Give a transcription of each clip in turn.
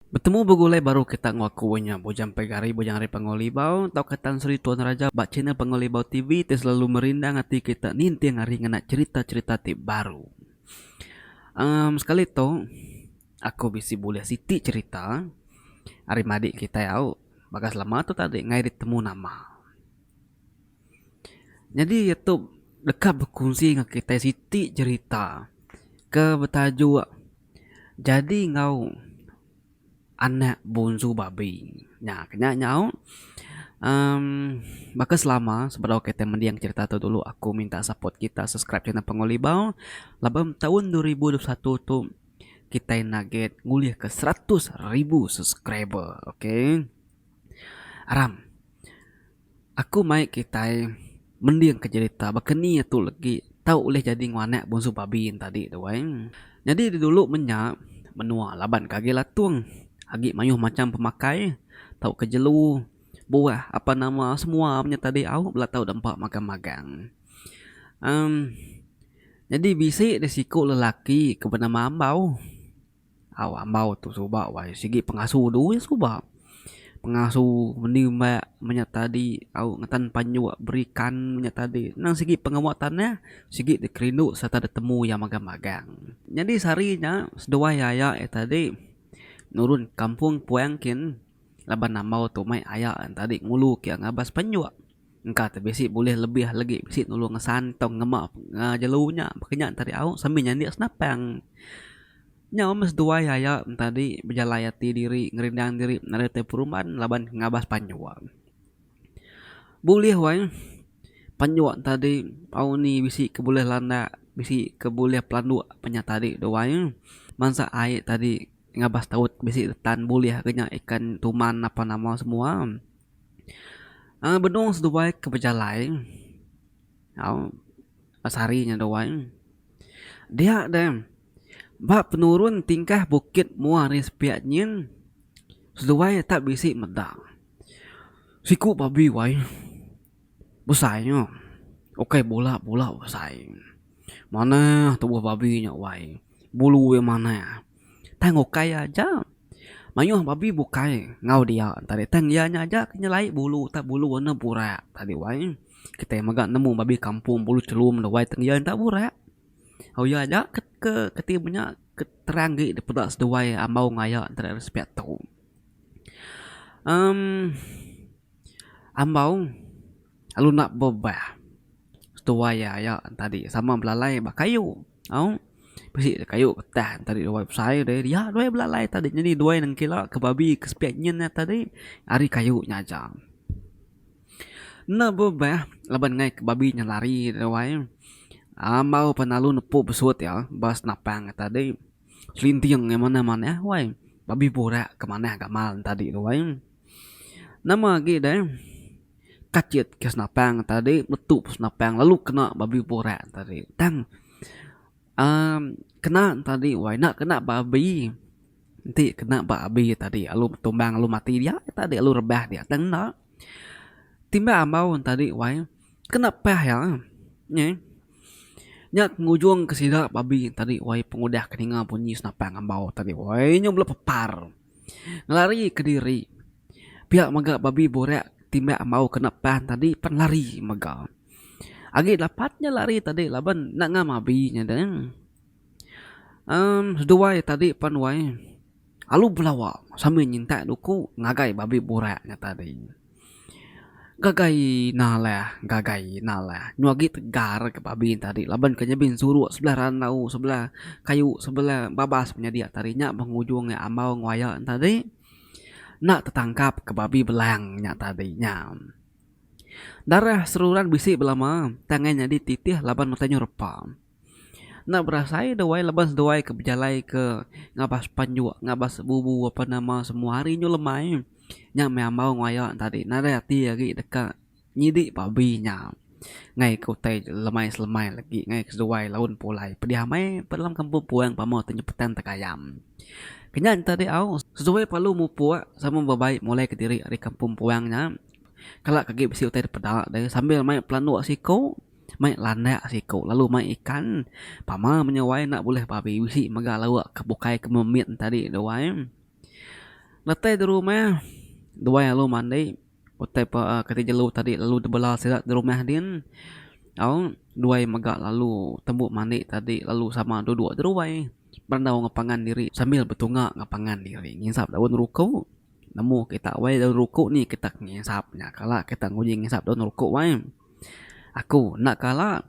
Betemu begulai baru kita enggau aku nya Bujang Pegari, Bujang Ari Panggau Libau tauka Tan Sri Tuan Raja ba channel Panggau Libau TV ti selalu merindang ati kita ninting hari ngena cherita-cherita ti baru. Emm sekali tu aku bisi bulih siti cherita ari madik kitai au baka selama tu tadi ngai ditemu nama. Nyadi iya tu deka bekunsi enggau kitai siti cherita ke betajuk. Jadi enggau anak bonsu babi nya ke nya nyau um baka selama sebedau kitai mending cherita tu dulu aku minta support kita subscribe channel Panggau Libau laban meh taun dua ribu dua puluh satu tu kitai naget ngulihka seratus ribu subscriber okay aram. Aku mai kitai mending ke jerita baka ni tu legi tau ulih jadi nguanak Bonsu Babi entadi tu ai. Nyadi didulu menya menua laban ke agi latung, agi mayuh macham pemakai tau ke jelu, buah apa nama semua menya tadi au bela tau dempa magang magang. Em nyadi bisi deh siku lelaki ke bernama Ambau. Au ambau tu suba wai sigi pengasu du iya suba pengasu meni mba menya tadi au ngetan panjuk berikan menya tadi nang sigi pengawa tanah sigi dikerindu sereta ditemu iya magang magang nyadi sehari nya seduai aya iya tadi nurun kampung puang kin laban ambau tu meh aya tadi ngulu ke ngabas panjuk. Engka te bisi bulih lebih legi bisi nulung ngesan tau ngema ngejelu nya baka nya enti ari au sembi nyandik senapang. Nyau meh seduai aya entadi bejalai ati diri ngerindang diri nadai te peruman laban ngabas panjua. Bulih wai panjua entadi au ni bisi ke bulih landak bisi ke bulih pelanduk pe nya tadi tu wai mansa ai tadi ngabas taut bisi retan bulih ke nya ikan tuman apan nama semua. Aaa benung seduai ke bejalai au pas hari nya duai dia deh ba penurun tingkah bukit mua ari sepi nyin seduai tak bisi meda siku babi wai. Besai nya. Ukai bula bula besai. Manah tubuh babi nya wai. Bulu iya manah. Tang ukai iya aja. Mayuh babi bukai enggau dia tadi tang iya nya aja ke nyelai bulu tak bulu warna burak tadi wai. Kitai mega nemu babi kampung bulu chelum tu wai tang iya enda burak. Au iya aja ke ke keti inya nya ke terang agi dipeda seduai ambau ngayak nta ada respect tu. Em. Ambau lalu enda bebah tuai iya aya tadi sama belalai ba kayu au bisi ja kayu getah tadi tuai besai deh dia tuai belalai tadi nyadi tuai nengkila ke babi ke sepiak nyin iya tadi ari kayu nya aja. Enda bebah laban ngai ke babi nya lari deh tuai ambau pan lalu nepu besut iya ba senapang iya tadi selinting iya manah manah wai babi burak ke manah gamal tadi tuai. Nama agi deh kachit ke senapang tadi metu pun senapang lalu kena babi burak tadi tang uhh kena tadi wai enda kena ba abi enti kena ba abi tadi lalu betumbang lalu mati dia tadi lalu rebah dia tang enda timbal ambau tadi wai kena pah iya nyeh nya ke ngujung ke sida babi tadi wai pengudah ke ninga bunyi senapang ambau tadi wai nyu melu pepar. Ngelari kediri. Pia mega babi burak timbak ambau kena pan tadi pan lari mega. Agi dapat nya lari tadi laban enda ngam abi nya deh. Aaa seduai tadi pan wai alu belawa sambil nyintak duku ngagai babi burak nya tadi. Gagai ina alai gagai ina alai nyau agi tegar ke babi enti adi laban ke nyebin suruk sebelah randau sebelah kayu sebelah babas nyadi tadi nya pengujung iya ambau nguaya ne tadi enda tetangkap ke babi belang nya tadi nya. Darah seruran bisi belama tang iya nyadi titih laban utai nyau repa. Enda berasai duai laban seduai ke bejalai ke ngabas penjuk ngabas bubu apan nama semua hari nyu lemai nya meh ambau enggau aya nya tadi nadai ati agi deka nyidi pabi nya ngai ke utai lemai selemai lagi ngai ke seduai laun pulai pediah amai pa dalam kampung puang pemau tu nyepetang tegayam. Kenya nya tadi au seduai perlu mupuk sama bebaik mulai kediri ari kampung puang nya kala ke agi bisi utai dipeda deh sambil mai pelanduk siko. Mai landak siku lalu mai ikan. Pama menyawai enda bulih babi bisi mega lawa ke bukai ke memit tadi tu wai. Letai di rumah duai alu mandi utai pa ke ti jelu tadi lalu dibela sida di rumah din au duai mega lalu tembu mandi tadi lalu sama duduk di ruai berandau enggau pangan diri sambil betunga enggau pangan diri ngisap daun ruku nemu kita wai daun ruku ni kita ngisap nya kala kita nguji ngisap daun ruku wai. Aku enda kala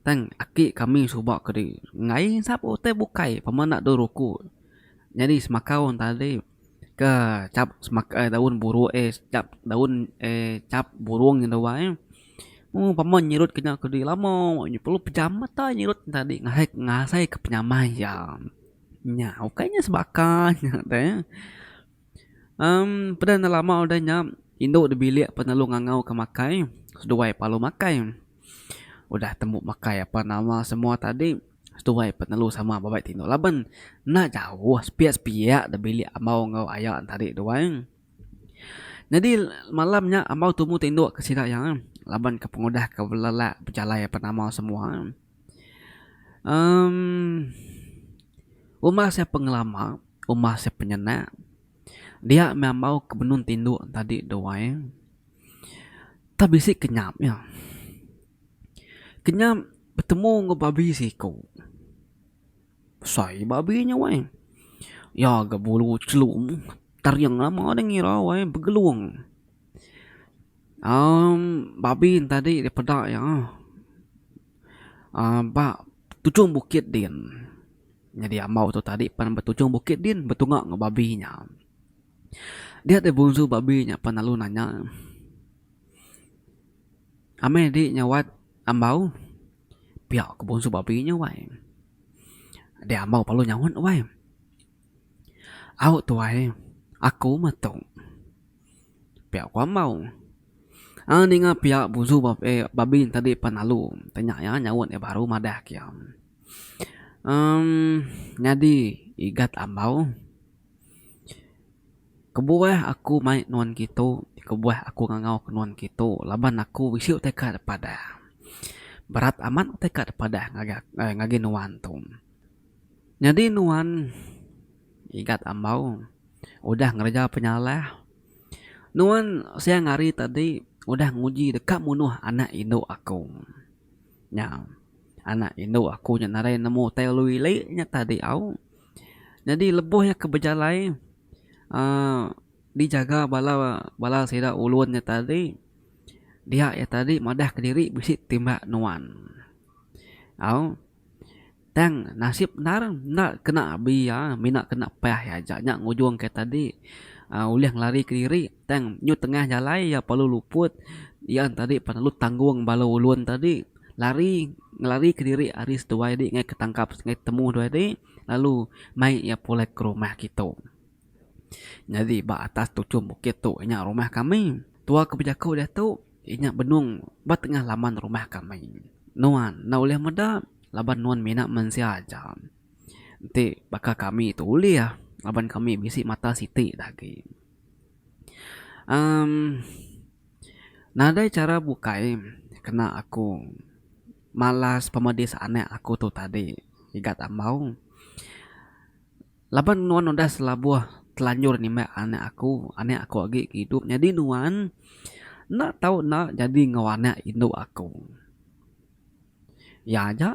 tang aki kami suba ke diri enggai sapu utai bukai pemba enda dau ruku nyadi semakau enta alai ke chap semakau daun buruk eh chap daun eh chap burung nyen dau bai mung pemba nyerut ke nya ke diri lama perlu pejam mata nyerut enta adi ngasai ngasai ke penyamai iya nya ukai nya sebaka nya teh. Umm peda enda lama udah nya indu da bilik pan lalu ngangau ke makai seduai pan lalu makai udah tembu makai apan ama semua tadi seduai pan lalu sama ba bai tingu laban enda jauh sepiak sepiak da bilik ambau enggau aya ne tadi tu ai nyadi malam nya ambau tumu tindu ke sida iya laban ke pengudah ke bela lelak bejalai apan ama semua. Em Rumah sia pengelama, rumah sia penyendak dia meh ambau ke benung ti indu tadi tu ai tak bisi kenyap nya. Kenyap betemu enggau babi siko. Besai babi nya wei. Iya ga bulu chelum taring lama deh ngira wei begelung. Um babi tadi ti peda iya uhh ba tujung bukit din nyadi ambo tu tadi pan ba tujung bukit din betunga enggau babi inya. Dia deh bunsu babi inya pan lalu nanya amai di inya wat ambo pia ku bunsu babi inya wai. Adi ambo lalu nyaut wai au tuai aku meh tu. Pia ku Amau. Ai ninga pia buzu ba eh babin tadi pan lalu tanya iya nyaut iya baru madah ke iya. Emm nyadi igat Amau kebuah aku mai nuan kitu kebuah aku ngangau ke nuan kitu laban aku bisi utai ka padah. Berat amat utai ka padah ngagai nuan tu. Nyadi nuan. Igat Ambau udah ngereja penyalah nuan siang hari tadi udah nguji deka munuh anak indu aku nya anak indu aku nya nadai nemu utai lalu ili nya tadi au nyadi lebuh iya ke bejalai uhh dijaga bala bala sida ulun nya tadi dia iya tadi madah kediri bisi ti mba nuan au. Tang nasib endar enda kena abi iya mina kena pah iya aja nya ngujung ke tadi uhh ulih ngelari kediri tang nyu tengah jalai iya perlu luput iya nya tadi perlu tanggung bala ulun tadi lari ngelari kediri ari seduai di ngai ketangkap ngai ketemu duai di lalu mai iya pulai ke rumah kitu. Nyadi ba atas tuchum bukit tu nya rumah kami. Tua ke bejaku diatu. Inya benung ba tengah laman rumah kami. Nuan enda ulih meda laban nuan mina mensia aja. Enti baka kami tu ulih laban kami bisi mata siti dah agi. Em nadai chara bukai kena aku malas pemedis anak aku tu tadi, igat Ambau. Laban nuan udah selabuh telanjur nimbak anak aku, anak aku agi ke idup, nyadi nuan enda tau enda jadi enggau anak indu aku. Iya aja,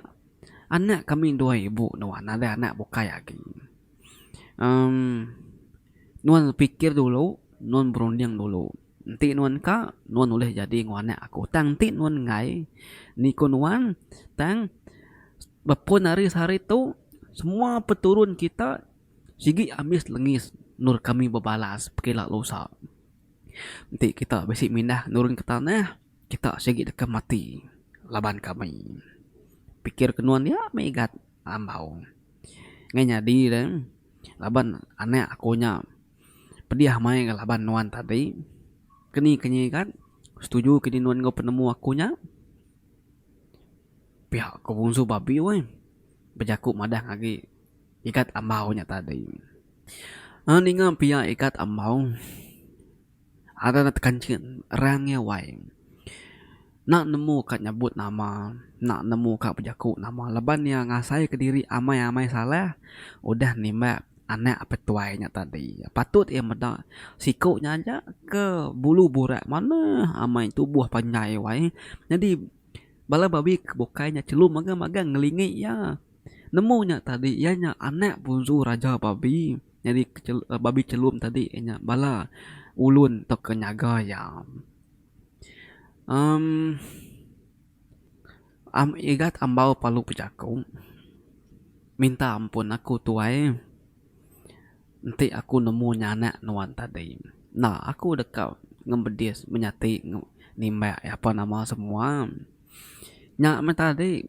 anak kami dua ibu nuan nadai anak bukai agi. Em, nuan fikir dulu, nuan berunding dulu. Enti nuan ka, nuan ulih jadi enggau anak aku. Tang enti nuan enggai, ni ku nuan, tang Bepun ari sehari tu semua peturun kita sigi ambis lengis endur kami bebalas pekila lusa. Enti kita bisi mindah nurun ke tanah kita sigi deka mati laban kami. Pikir ke nuan nya megat ambau. Ngai nyadi ne laban anak aku nya pedih mai enggau laban nuan tadi keni ke nyigat setuju kidi nuan enggau penemu aku nya. Piak ko Bungsu Babi weh bejaku madah ngagi Ikat Ambau nya tadi. Enda ninga pia Ikat Ambau ada enda tekanchin rang iya wai. Enda nemu ka nyebut nama, enda nemu ka bejaku nama laban iya ngasai ke diri amai-amai salah udah nimbak anak petuai nya tadi. Patut iya meda siko nya aja ke bulu burak manah amai tubuh panjai wai. Nyadi. Bala babi ke bukai nya chelu magang magang ngelingi iya. Nemu nya tadi iya nya anak punsu raja babi. Nyadi ke chelu babi chelum tadi iya nya bala ulun tauka nyaga iya. Em am igat ambau palu bejaku minta ampun aku tuai. Enti aku nemu nyanak nuan tadi. Enda aku deka ngembedis menyati nimbak iya apan nama semua. Nya meh tadi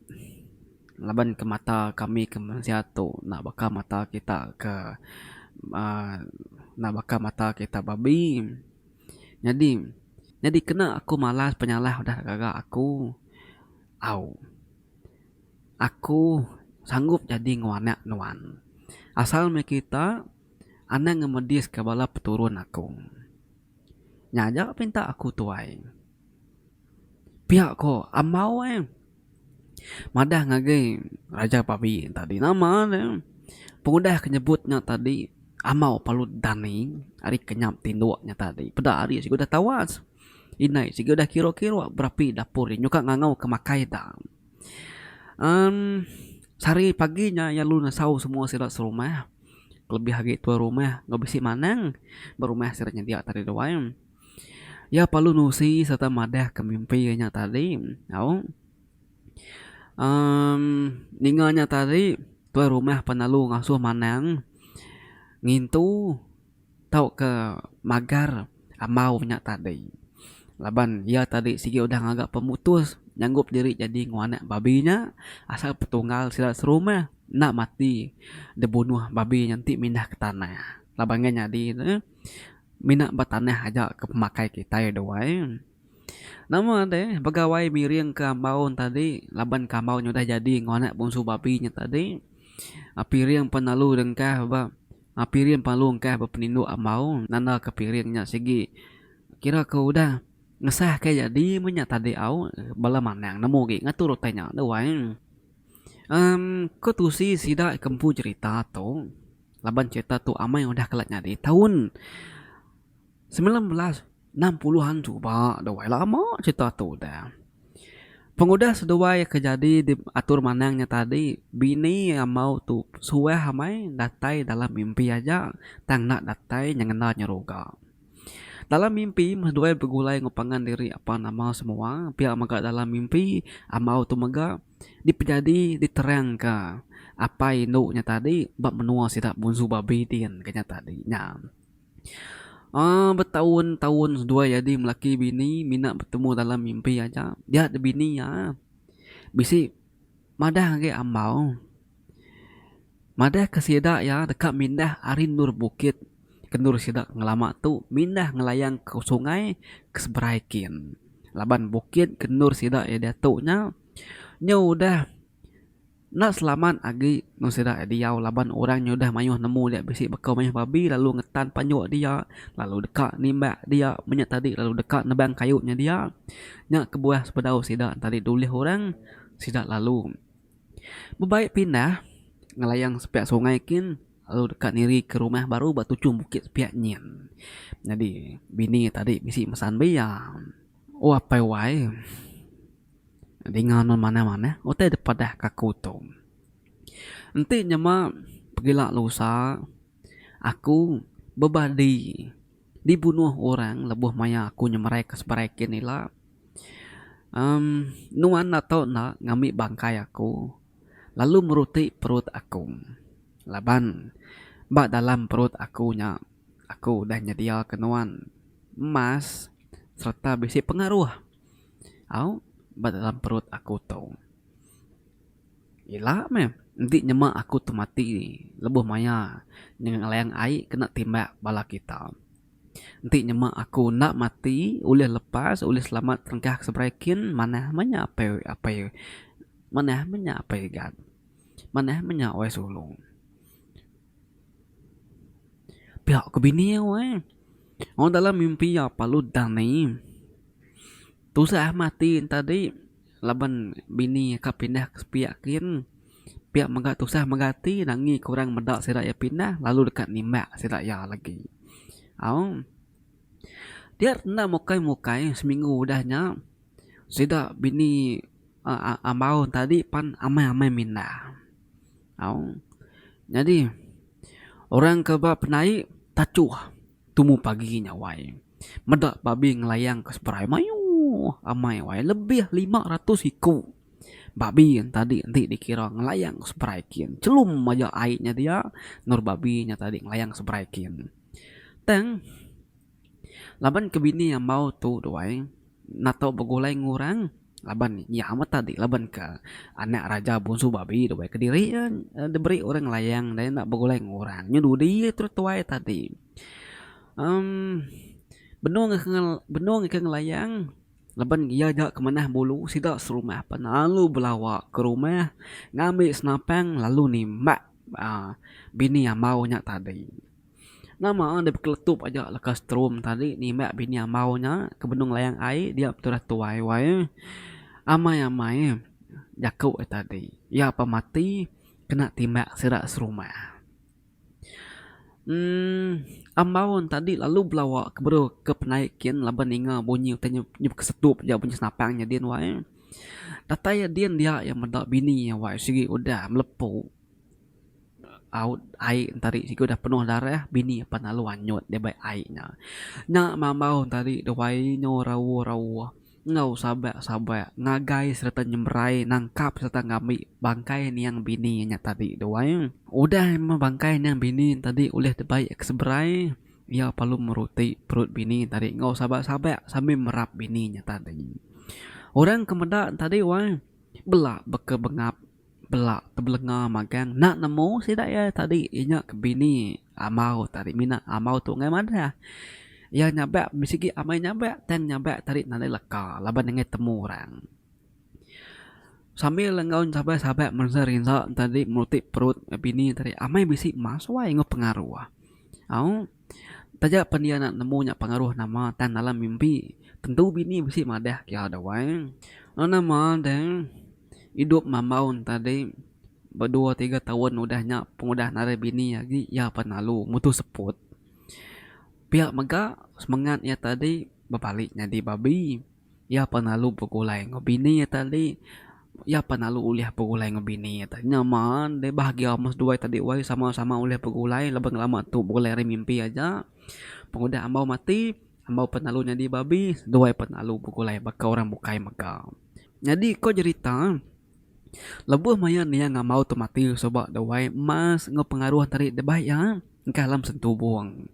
laban ke mata kami ke mensia tu enda baka mata kita ke uhh enda baka mata kita babi. Nyadi nyadi kena aku malas penyalah udah gaga aku au. Aku sanggup nyadi enggau anak nuan, asal meh kita anang ngemediska bala peturun aku. Nya aja pinta aku, Tuai. Pia ko Amau ai madah ngagai Raja Babi tadi. Nama ne pengudah ke nyebut nya tadi Amau Palut Dani ari kenyap tinduk nya tadi. Peda ari sigudah tawas. Indai sigudah kiro-kiro berapi dapur nya nyungkak ngangau ke makai da. Em sehari pagi nya iya lalu nesau semua sida serumah kelebih agi tuai rumah enggau bisi manang ba rumah sida nyedia tadi tu ai. Iya perlu nusi sereta madahka mimpi iya nya tadi au em ninga nya tadi tuai rumah pelalu ngasuh manang ngintu. Tauka magar Amau nya tadi. Laban iya tadi sigi udah ngaga pemutus nyanggup diri jadi enggau anak babi nya asal petunggal sida serumah enda mati dibunuh babi nya enti mindah ke tanah. Laban enggai nyadi ne mina ba tanah aja ke pemakai kitai dua ai. Nama deh begawai miring ke Amau ne tadi laban ke Amau nya udah jadi enggau anak bungsu babi nya tadi. Piring pun lalu dengkah ba. Piring palung kah bepeninduk ambau nanda ke piring nya sigi kira ke udah ngesah ke jadi meh nya tadi au bala manang nemu gi ngatur utai nya deh wai emm ko tusi sida ke empu cerita tu laban cerita tu amai udah kala nyadi taun semilan belas. Enam puluh an chuba duai lama cerita tu udah. Pengudah seduai ke jadi di atur manang nya tadi bini amau tu suah amai datai dalam mimpi aja tang enda datai nyengenda nyeruga. Dalam mimpi meh seduai begulai enggau pangan diri apan nama semua pia mega dalam mimpi amau tu mega dipejadi diterang ka apai indu nya tadi ba menua sida Bunsu Babi din ke nya tadi nya. Aaa betaun taun seduai jadi melaki bini mina betemu dalam mimpi aja dia da bini iya bisi madah agi ambau madah ke sida iya deka mindah ari endur bukit ke endur sida ngelama tu mindah ngelayang ke sungai ke seberai kin laban bukit ke endur sida iya diatu nya nya udah Enda selamat agi enggau sida iya diau laban orang nyudah mayuh nemu dia bisi baka mayuh babi lalu ngetan panjuk dia lalu deka nimbak dia menya tadi lalu deka nebang kayu nya dia. Nya kebuah sebedau sida tadi dulih orang sida lalu bebai pindah ngelayang sepiak sungai kin lalu deka nirika rumah baru ba tuchum bukit sepiak nyin. Nyadi bini tadi bisi mesan bia. O apai wai. Dinga nun manah-manah utai dipadah ka aku tu. Enti nyema pegila lusa aku bebadi dibunuh orang lebuh maya aku nyemerai ke seberai kin ila. Em nuan enda tau enda ngambi bangkai aku lalu meruti perut aku laban ba dalam perut aku nya aku udah nyedia ke nuan emas sereta bisi pengaruh. Au ba dalam perut aku tu. Ila meh enti nyema aku tu mati lebuh maya ngelayang ai kena timbak bala kita. Enti nyema aku enda mati ulih lepas ulih selamat tengkah ke seberai kin manah meh nya apai apai manah meh nya apai rigat. Manah meh nya Wai Sulu. Pia ku bini iya weh. Wang dalam mimpi iya palu dani. Tusah amat ati enta di laban bini iya ka pindah ke sepi kin. Pia mega tusah mega ati nangi ke orang meda sida iya pindah lalu deka nimbak sida iya lagi. Au. Dia enda mukai mukai seminggu udah nya. Sida bini Ambau tadi pan amai-amai minda. Au. Nyadi orang ke ba penai tachuh tumu pagi nya wai. Meda babi ngelayang ke seberai mayuh amai wai lebih lima ratus iku babi tadi enti dikira ngelayang seberai kin. Chelum aja ai nya dia endur babi nya tadi ngelayang seberai kin. Tang. Laban ke bini ambau tu duai nato begulai ngurang laban nya amat tadi laban ke anak raja bunsu babi duai kediri iya diberi orang layang dai enda begulai ngurang nyu dudi iya tu tuai tadi emm benung benung ika ngelayang laban iya ja ke manah bulu sida serumah pa lalu belawa ke rumah ngambi senapang lalu nimbak aaa bini ambau nya tadi. Nama deh bekeletup aja leka strum tadi nimbak bini ambau nya ke benung layang ai dia pe tudah tuai wai eh amai amai eh jaku eh tadi iya pa mati kena timbak sida serumah uhh ambau tadi lalu belawa ke bru ke penai kin laban ninga bunyi utai inya inya bekesetup ja bunyi senapang nya din wai eh datai iya din dia iya meda bini iya wai sigi udah melepu. Raut ai entari siku dah penuh darah bini pan lalu anyut dia bai ai nya. Nya mambau entari duai nyu rauh-rauh enggau sabak-sabak ngagai sereta nyemberai nangkap sereta ngambi bangkai niang bini nya tadi duai. Udah meh bangkai niang bini tadi ulih dibai ke seberai iya perlu meruti perut bini tadi enggau sabak-sabak sambil merap bini nya tadi. Orang ke meda tadi wai bela beka bengap. Bela tebelenga magang enda nemu sida iya tadi inya ke bini amau tadi mina amau tu ngaih madah. Iya nyabak bisi agi amai nyabak tang nyabak tadi nadai leka laban iya ngaih temu orang. Sambil enggau sabai sabai merinsa rinsa tadi meruti perut bini tadi amai bisi masui enggau pengaruh. Au. Taja pan iya enda nemu nya pengaruh nama tang dalam mimpi tentu bini bisi madah kiya dau ai. Enda nama deh idup mambau tadi bedua tiga taun udah nya pengudah narai bini agi iya pan lalu mutu seput. Pia mega semengat iya tadi bebali nyadi babi. Iya pan lalu begulai enggau bini iya tadi. Iya pan lalu ulih begulai enggau bini iya tadi. Nya maan deh bahagia ama seduai tadi wai sama-sama ulih begulai laban lama tu begulai ari mimpi aja. Pengudah ambau mati, ambau pan lalu nyadi babi, seduai pan lalu begulai baka orang bukai mega. Nyadi ko jerita, lebuh maya Nia enggau Ambau tu mati suba deh wai, mas enggau pengaruh enti ari debei iya engkah alam sentu bung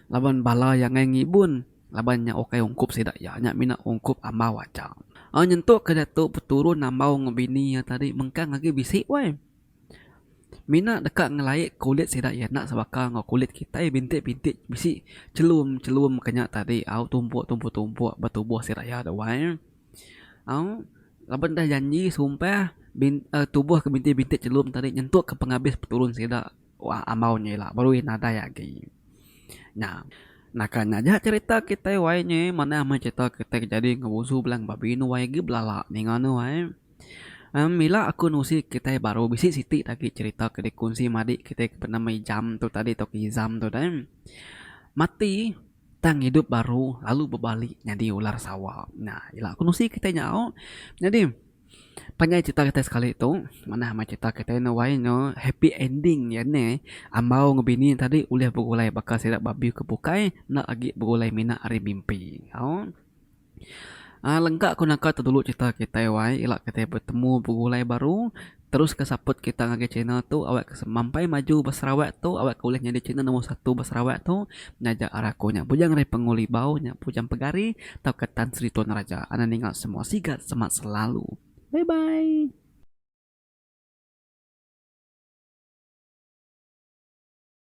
laban bala iya angai ngibun. Laban nya ukai ungkup sida iya nya mina ungkup ambau aja. Ai nyentuk ke diatu peturun ambau enggau bini iya tadi mengkang agi bisi wai. Mina deka ngelaik kulit sida iya enda sebaka enggau kulit kitai bintik-bintik bisi chelum-chelum ke nya tadi au tumpuk-tumpuk-tumpuk ba tubuh sida iya tu wai. Au laban dah janji sumpah bin tubuh ke bintik-bintik chelum tadi nyentuk ke pengabis peturun sida. Wah ambau nya ila berui nadai agi. Nya naka nya aja cerita kitai wai nya manah meh cerita kitai ke jadi enggau busu bela babi anu wai agi belala ninga anu wai. Em ila aku nusi kitai baru bisi siti agi cerita ke dikunsi madi kitai ke bernama ijam tu tadi tauka izam tu dai. Mati. Tang idup baru lalu bebalik nyadi ular sawa. Nya ila kenusi kitai nyau. Nyadi panjai crita kitai sekali tu manah meh crita kitai enda wai nya happy ending iya nya ambau enggau bini tadi ulih begulai baka sida babi ke bukai enda agi begulai mina ari mimpi. Au. Lega ku naka tu dulu cerita kitai wai ila kitai betemu begulai baru terus ke saput kita ngagai channel tu awak ke mampai maju ba Sarawak tu awak ke ulih nyadi channel nombor satu ba Sarawak tu ngaja ari aku nya bujang ari Pengu Libau nya bujang pegari tauka Tan Sri Tun Raja anda ninga semua sigat semak selalu bye bye.